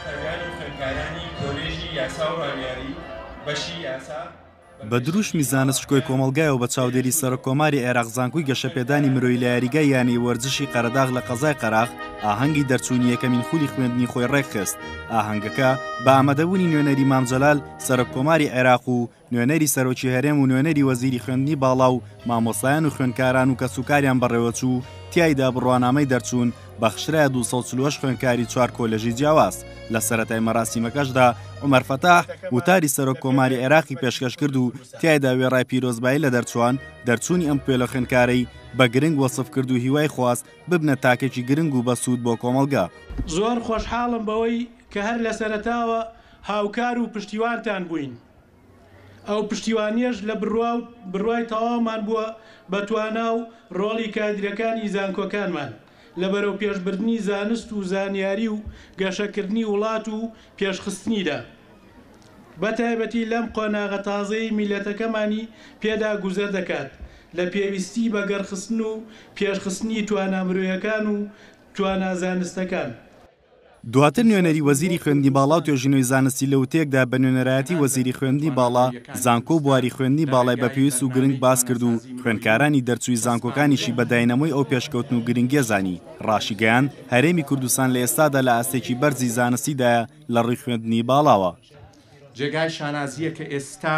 شکاریان و خوێندکارانی کۆلێژی یاسا و ڕامیاری بەشی یاسا، بە دروشمی زانست شکۆی کۆمەڵگایەوە بە چاودێری سەرکۆماری عێراق زانکوی گەشەپێدانی مرۆی لە یاریگای یانەی وەرزشی قەرەداغ لە قەزای قەراخ ئاهەنگی دەرچوونی یەکەمین خولی خوێندنی خۆی ڕێکخست ئاهەنگەکە بە ئامادەبوونی نوێنەری مامجلال سەرکۆماری عێراق و نوێنەری سەرۆکی هەرێم و نوێنەری وەزیری خوێندنی باڵا و مامۆستایان و خوێندکاران و کەسوکاریان بەڕێوەچوو، تیایدا بڕوانامەی دەرچوون بەخشرایە دوو سەد و چل و هەشت خوێندکاری چوار کۆلێژی جیاواز، لە سەرەتای مەراسیمەکەشدا عومەر فەتاح وتاری سەرۆک کۆماری عێراقی پێشکەشکرد و تیایدا وێڕای پیرۆزبایی لە دەرچوان، دەرچوونی ئەم پێلە خوێندکارەی بە گرنگ وەسفکرد و هیوای خواست ببنە تاکێکی گرنگ و بەسوود بۆ کۆمەڵگە. زۆر خۆشحاڵم بەوەی کە هەر لە سەرەتاوە هاوکار و پشتیوانتان بووین. ئەو پشتیوانیەش لە بڕوا و بڕوای تەواومان بووە بە توانا و ڕۆڵی کادیرەکانی زانکۆکانمان لە بەرەوپێشبردنی زانست و زانیاری و گەشەکردنی وڵات و پێشخستنیدا بە تایبەتی لەم قۆناغە تازەی میللەتەکەمانی پێدا گوزەر دەکات لە پێویستی بە گەڕخستن و پێشخستنی توانا مرۆیەکان و توانا زانستەکان. دواتر نوێنەری وەزیری خوێندنی باڵا و توێژینەوەی زانستی لە وتەیەکدا بە نوێنەرایەتی وەزیری خوێندنی باڵا، زانکۆ و بواری خوێندنی باڵای بە پێویست و گرنگ باس کرد و خوێندکارانی دەرچووی زانکۆکانیشی بە داینەمۆی ئەو پێشکەوتن و گرنگیە زانی، ڕاشیگەیاند، هەرێمی کوردستان لە ئێستادا لە ئاستێکی بەرزی زانستیدایە لە ڕووی خوێندنی باڵاوە. جێگای شانازییە کە ئێستا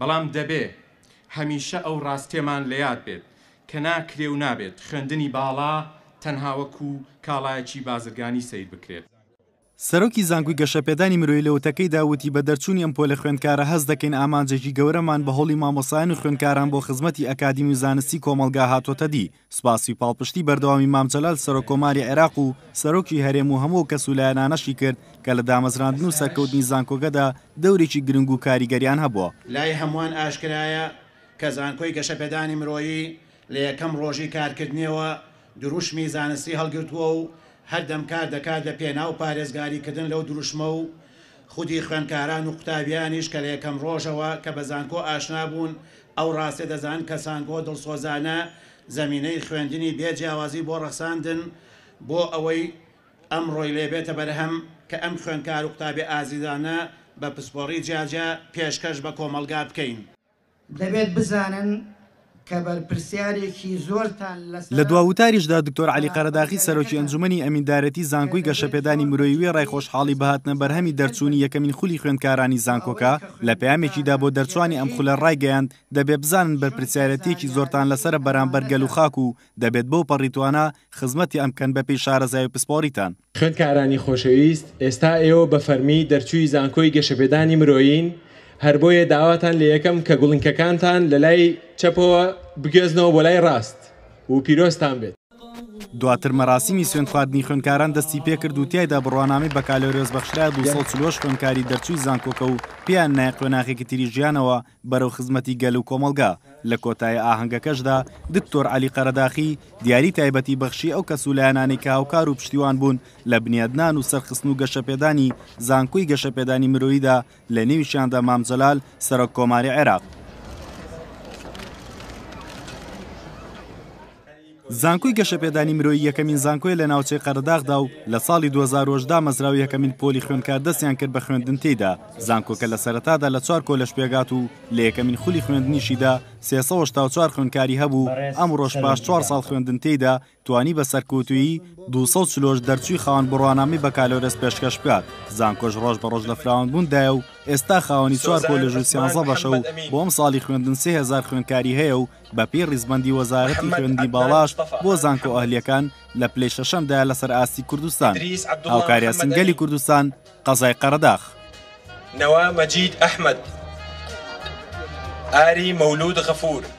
بەڵام دەبێ هەمیشە ئەو ڕاستیەمان لە یاد بێت کە ناکرێ و نابێت خوێندنی باڵا تەنها وەکو کاڵایەکی بازرگانی سەیر بکرێت. سەرۆکی زانکۆی گەشەپێدانی مرۆیی لە وتەکەیدا وتی بە دەرچوونی ئەم پۆلە خوێندکارە هەست دەکەین ئامانجێکی گەورەمان بە هەوڵی مامۆستایان و خوێندکاران بۆ خزمەتی ئەکادیمی و زانستی کۆمەڵگا هاتۆتە دی، سپاسی پاڵپشتی بەردەوامی مام جەلال سەرۆک کۆماری عێراق و سەرۆکی هەرێم و هەموو کەس و لایەنانەشی کرد کە لە دامەزراندن و سەرکەوتنی زانکۆکەدا دەورێکی گرنگ و کاریگەریان هەبووە. لای هەمووان ئاشکرایە کە زانکۆی گەشەپێدانی مرۆیی لە یەکەم ڕۆژی کارکردنیەوە دروشمی زانستی هەڵگرتووە و هەردەم کار دەکات لە پێناو پارێزگاری کردن لەو دروشمە و خودی خوێندکاران و قوتابیانیش کە لە یەکەم ڕۆژەوە کە بە زانکۆ ئاشنا بوون ئەو ڕاستیە دەزان کە سانکۆ دڵسۆزانە زەمینەی خوێندنی بێ جیاوازی بۆ ڕەخساندن بۆ ئەوەی ئەمڕۆی لێ بێتە بەرهەم کە ئەم خوێندکار و قوتابیە ئازیزانە بە پسپۆڕی جیاجیا پێشکەش بە کۆمەڵگا بکەین. دەبێت بزانن کە بەرپرسیارێکی زۆرتان لەسەرە. لە دوا وتاریشدا دکتۆر عەلی قەرەداخی سەرۆکی ئەنجومەنی ئەمیندارێتی زانکۆی گەشەپێدانی مرۆیی وێڕای خۆشحاڵی بە هاتنە بەرهەمی دەرچوونی یەکەمین خولی خوێندکارانی زانکۆکە، لە پەیامێکیدا بۆ دەرچوانی ئەم خولە ڕایگەیاند، دەبێ بزانن بەرپرسیارەتیەکی زۆرتان لەسەرە بەرامبەر گەل و خاک و دەبێت بەو پەڕی توانا خزمەتی ئەم بکەن بەپێی شارەزای و پسپۆڕیتان. خوێندکارانی خۆشەویست، ئێستا ئێوە بە فەرمی دەرچووی زانکۆی گەشەپێدانی مرۆیین، هەر بۆیە داواتان لێ یەکەم کە گوڵینکەکانتان لە لای چەپەوە بگوێزنەوە بۆ لای ڕاست و پیرۆزتان بێت. دواتر مەراسیمی سوێندخواردنی خوێندکاران دەستی پێکرد و تیایدا بڕوانامەی بەکالۆریۆس بەخشرا دوو سەد و چل و هەشت خوێندکاری دەرچووی زانکۆکە و پێیان نایە قۆناغێکی تری ژیانەوە بەرەو خزمەتی گەل و کۆمەڵگا لە کۆتایی ئاهەنگەکەشدا دکتۆر عەلی قەرەداخی دیاری تایبەتی بەخشی ئەو کەس و لایەنانەی کە هاوکار و پشتیوان بوون لە بنیادنان و سەرخستن و گەشەپێدانی زانکۆی گەشەپێدانی مرۆییدا لە نێویشیاندا مام جەلال سەرۆک کۆماری عێراق. زانکۆی گەشەپێدانی مرۆیی یەکەمین زانکۆیە لە ناوچەی قەرەداغدا و لە ساڵی 2010 دامەزراو یەکەمین پۆلی خوێندکار دەستیان کرد بە خوێندن تێیدا زانکۆکە لە سەرەتادا لە چوار کۆلەش پێگات و لە یەکەمین خولی خوێندنیشیدا سێ سەد و هەشتا و چوار خوێندکاری هەبوو ئەمڕۆش پاش چوار ساڵ خوێندن تێیدا توانی بە سەرکەوتوویی دوو سەد و چل و هەشت دەرچووی خاوەن بڕوانامەی بەکالۆرێس پێشکەش بکات، زانکۆش ڕۆژ بە ڕۆژ لە فراوانبووندایە و ئێستا خاوەنی چوار کۆلێژ و سیانزە بەشە و بۆ ئەمساڵی خوێندن سێ هەزار خوێندکاری هەیە و بەپێی ڕیزبەندی وەزارەتی خوێندنی باڵاش بۆ زانکۆ ئەهلییەکان لە پلەی شەشەمدایە لەسەر ئاستی کوردستان هاوکاریاسن گەلی کوردستان قەزای قەرەداخ نەوا مەجید ئەحمەد ئاری مەولود غەفور.